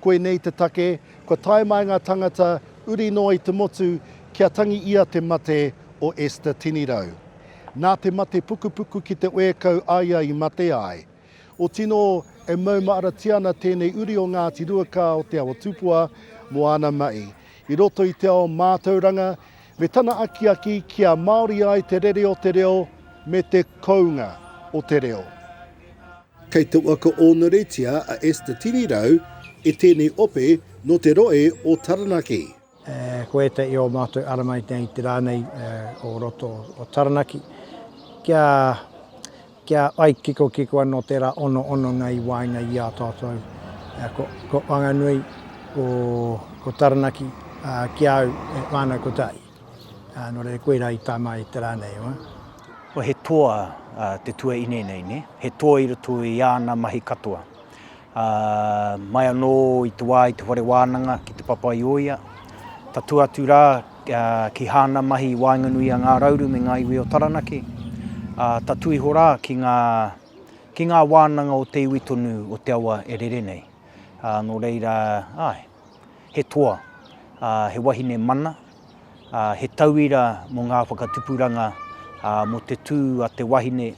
Koinei te take, kua tae mai ngā tangata uri noa i te motu kia tangi ia te mate o Esther Tinirau. Nā te mate pukupuku ki te oekau a ia i mate ai. O tino e maumaaratia ana tēnei uri o Ngāti Ruakā o Te Awa Tupua mō ana mahi i roto i te ao mātauranga me tana akiaki kia Māori ai te rere o te reo me te kounga o te reo. Kei te waka ōnuretia a Esther Tirirau e tēnei ope nō te rohe o Taranaki. Ko ētahi o ō mātou arama i nei te rā nei o roto o Taranaki kia kia whai kikokiko anō tērā ono hononga i waenga i a tātou. Ko Whanganui, ko Taranaki ki a au e whānau kotahi. Ā, nō reira, koirā i tama ai te rā nei, ā. Kua he toa te tuaine nei, nē? He toa i roto i āna mahi katoa. Ā, mai anō i te wā i te whare wānanga ki te papa i o ia, tatū atu rā ki hāna mahi i waenganui i a Ngā Rauru me ngā iwi o Taranaki, ā, tatū iho rā ki ngā, ki ngā wānanga o te iwi tonu o te awa e rere nei. Ā, nō reira, āe, He toa, ā, he wahine mana, ā, he tauira mō ngā whakatupuranga, ā, mō te tū a te wahine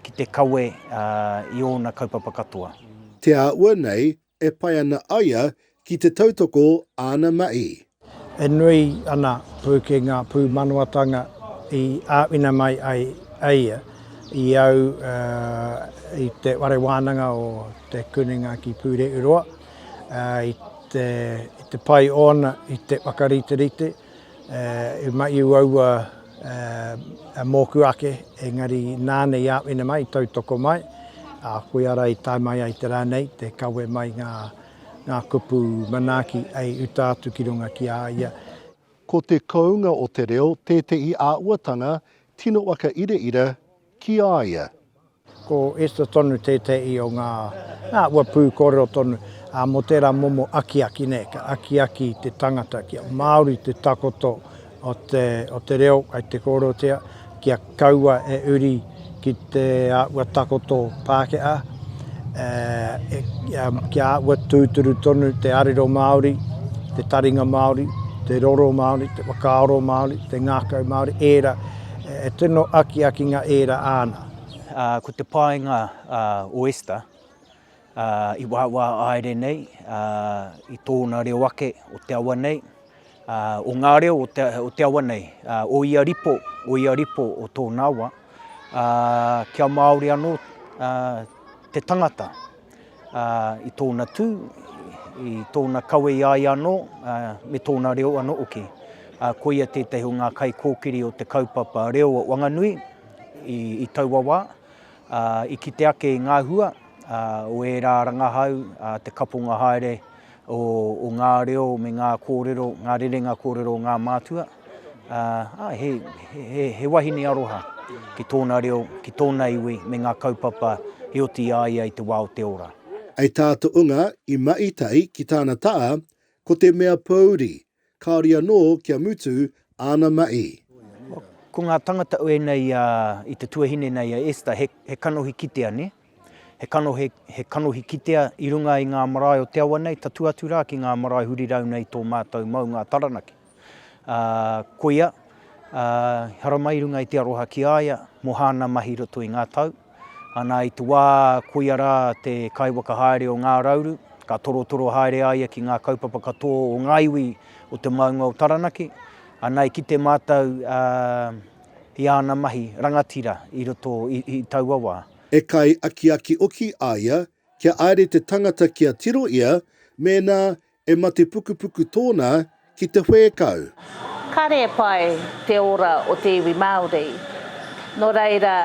ki te kawe, ā, i ōna kaupapa katoa. Te āhua nei e pai ana aia ki te tautoko āna mahi. E nui ana pūkenga pūmanawa-tanga i āwhina mai ai e ia i au i Te Whare Wānanga o Te Kunenga ki Pūrehuroa. i te pai ōna i te whakariterite, i mai uaua mōku ake, engari nāna i āwhina mai, i tautoko mai, koia rā i tae mai ai te rā nei, te kawe mai ngā kupu manaaki hei uta atu ki runga ki a ia. Ko te kounga o te reo tētehi āhuatanga tino whakairaira ki a ia. Ko Esther tonu tētehi o ngā āhua pūkōrero tonu mō tērā momo akiaki nei, ka akiaki te tangata kia Māori te takoto o te reo kei te kōrerotia, kia kaua e uri ki te āhua takoto Pākehā, kia āhua tūturu tonu te arero Māori, te taringa Māori, te roro Māori, te whakaaro Māori, te ngākau Māori, ērā. He tino akiakinga ērā āna. Ko te paenga o Esther i wāwā aere nei i tōna reo ake o te awa nei, o ngā reo o te awa nei, o ia ripo, o ia ripo o tōna awa, kia Māori anō te tangata. ā, i tōna tū, i tōna kawe i a ia anō, ā, me tōna reo anō hoki. Ā, koia tētahi o ngā kaikōkiri o te kaupapa reo o Wanganui i, i taua wā, ā, i kite ake i ngā hua, ā, o ērā rangahau, ā, te kaponga haere, o ngā reo me ngā kōrero, ngā rerenga kōrero o ngā mātua, ā, he, he, he wahine aroha ki tōna reo, ki tōna iwi me ngā kaupapa i oti i a ia i te wā o te ora. I tā To'unga i Ma'itai ki tāna ta'a, ko te mea pōuri, Kāore anō kia mutu āna mahi. Ko ngā tangata ēnei i te tuahine nei a Esther, he kanohi kitea nē? He kanohi, he kanohi kitea i runga i ngā marae o te awa nei, tatū atu rā ki ngā marae hurirau nei tō mātou maunga Taranaki. Ā, koia, ā, haramai i runga i te aroha ki a ia mō hāna mahi i roto i ngā tau, Ana i te wā, koia rā te kaiwhakahaere o Ngā Rauru, ka torotoro haere a ia ki ngā kaupapa katoa o ngā iwi o te maunga o Taranaki, ana i kite mātou i āna mahi rangatira i roto i taua wā. E kai akiaki oki a ia kia aere te tangata kia tiro ia mēnā E mate pukupuku tōna ki te whēkau. Kare e pai te ora o te iwi Māori. No reira,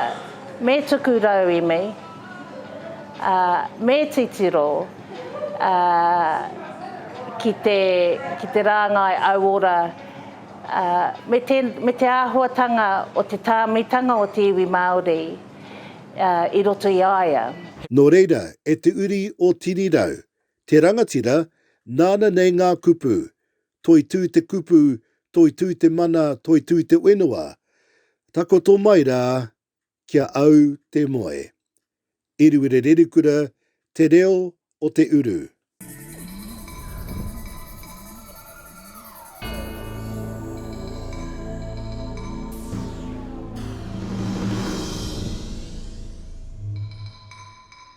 me tuku rauemi, a, me titiro, a, ki te, ki te rāngai auora, a, me te, me te āhuatanga o te tāmitanga o te iwi Māori, a, i roto i a ia. No reira, e te uri o Tirirau, Te rangatira, nāna nei ngā kupu, Toitū te kupu, Toitū te mana, Toitū te whenua, Takoto mai rā, ki a au te moe. Iriwire Rerikura, Te Reo o te Uru.